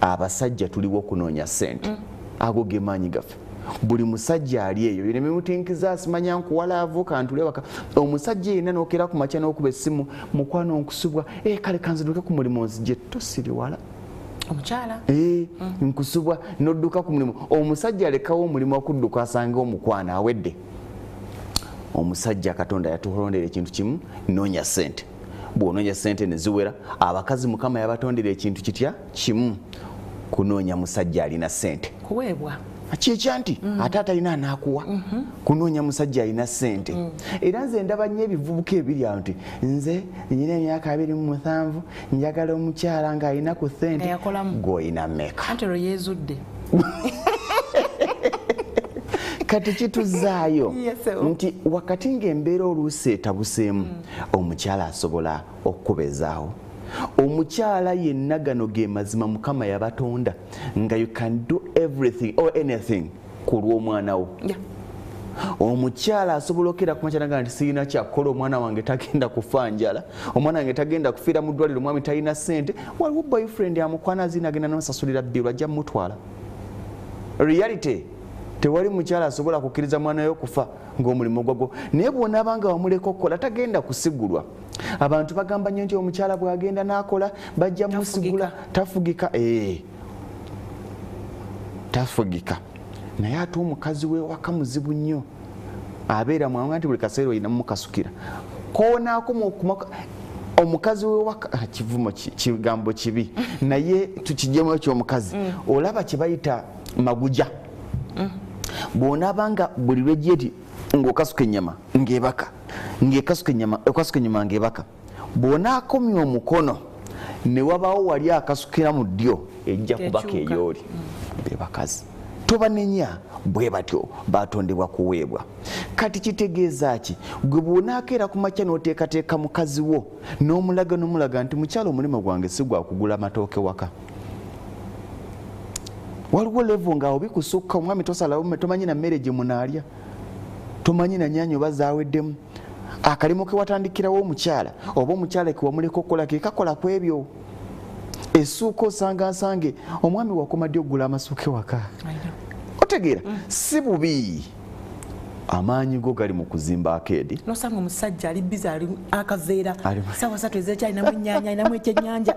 abasajja tuliwo okunoonya sente mm. ago gemaanyi gaffe buli musajja ali eyo yona mimutinkiza asimanya nkuwala avuka ntule waka omusajja yena nokera ku makya nokuba essimu mukwano nkusubwa e kale kanziduke ku mulimu nzije tosiriwala omukyala e, mm. nkusubwa nodduka ku mulimu omusajja alekawo omulimu okudduka asange omukwano awedde omusajja katonda yatuholondera ekintu kimu nonya sente bwononya sente neziwera abakazi mukama yabatondera ekintu kitya kimu kunonya musajja alina sente kuwebwa kyekya nti mm. ate atalina anakuwa mm -hmm. kunonya musajja alina sente mm. era nze ndaba nyo ebivubuka ebiri awo nti nze nyina emyaka abiri mu musanvu njagala omukyala nga alina ku sente goyina meka kati kituzaayo nti wakati ngaembeera oluusi etabuseemu mm. omukyala asobola okukubezaawo omukyala yenna gano ge mazima mukama yabatonda nga you can do everything or anything ku lw'omwana wo yeah. omukyala asobola okera kumakyanaga nti sirina kyakukola omwana wange tagenda kufa njala omwana wange tagenda kufiira mu ddwaliro omwami talina sente waliwo boyfriend amukwana azina agenda nasasulira bbiru ajja mumutwala reality tewali mukyala asobola kukkiriza mwana we okufa ng'omulimu gwagwo naye bw'onaaba nga wamuleka okukola tagenda kusigulwa abantu bagamba nnyo nti omukyala bw'agenda n'akola bajja musigula tafugika ee tafugika naye ate omukazi wewaka muzibu nnyo abeera mwanga nti buli kaseera olinamu mukasukira konaakoma okuma omukazi wewaka ah, kivumo kigambo kibi naye tukijemu ekyomukazi mm. olaba kyebayita maguja mm. bwonaba nga buli lwejeti ngaokasuka enyama ngebaka ngekasuka enyama okasuka enyama ngebaka bwonakomya omukono newabawo wali akasukira mu ddyo ejja kubaka eyooli mm. bebakazi tobanenya bwe batyo batondebwa kuweebwa kati kitegeeza ki gwe bwonakeera ku makya n'oteekateeka mukazi wo n'omulaga n'omulaga nti mukyalo omulimu gwange si gwakugula matooke waka waliwo levo nga obikusukka omwami tosalawo tomanyi na mmere gye munaalya tomanyi na nyanyi oba zaweddemu akalimu kewatandikirawo omukyala oba omukyala kewamuleka okukola kekakola ku ebyo esuuka osanga nsange omwami wakoma ddi okugula amasuuka ewaka otegeera mm. si bubi amaanyi go gali mu kuzimba akeedi nosanga omusajja ali biza ali akaveera sawa satu ezekyalinamu enyanya alinamu ekyenyanja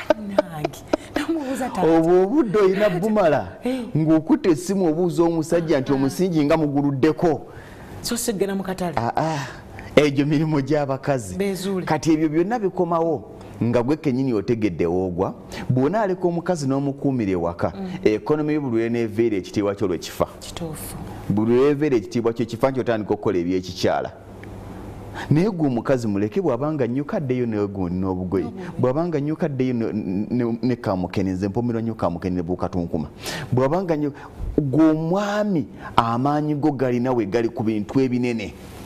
anange namubuuza ta obwo obudde olina bumala eh. ng'okuta essimu obuuza omusajja nti ah. omusingi nga muguluddeko so sigenda mu katale ah, ah. egyo mirimu gy'abakazi kati ebyo byonna bikomawo nga gwe kenyini otegedde woogwa bwona aleka omukazi n'omukuumira ewaka mm. ekonomi yo buli lweneeveera ekitiibwa kyo lwekifa buli lweveera ekitiibwa kyo kifa nti otandika okukola ebyekikyala naye gwe omukazi muleke bwabanga nnyo kaddeyo negundi n'obugoye bwabanga nnyo kaddeyo ne kamukenenze mpomerwa nnyo kamukenene bukatunkuma bwabanga nnyo gwe omwami amaanyi go galina we gali ku bintu ebinene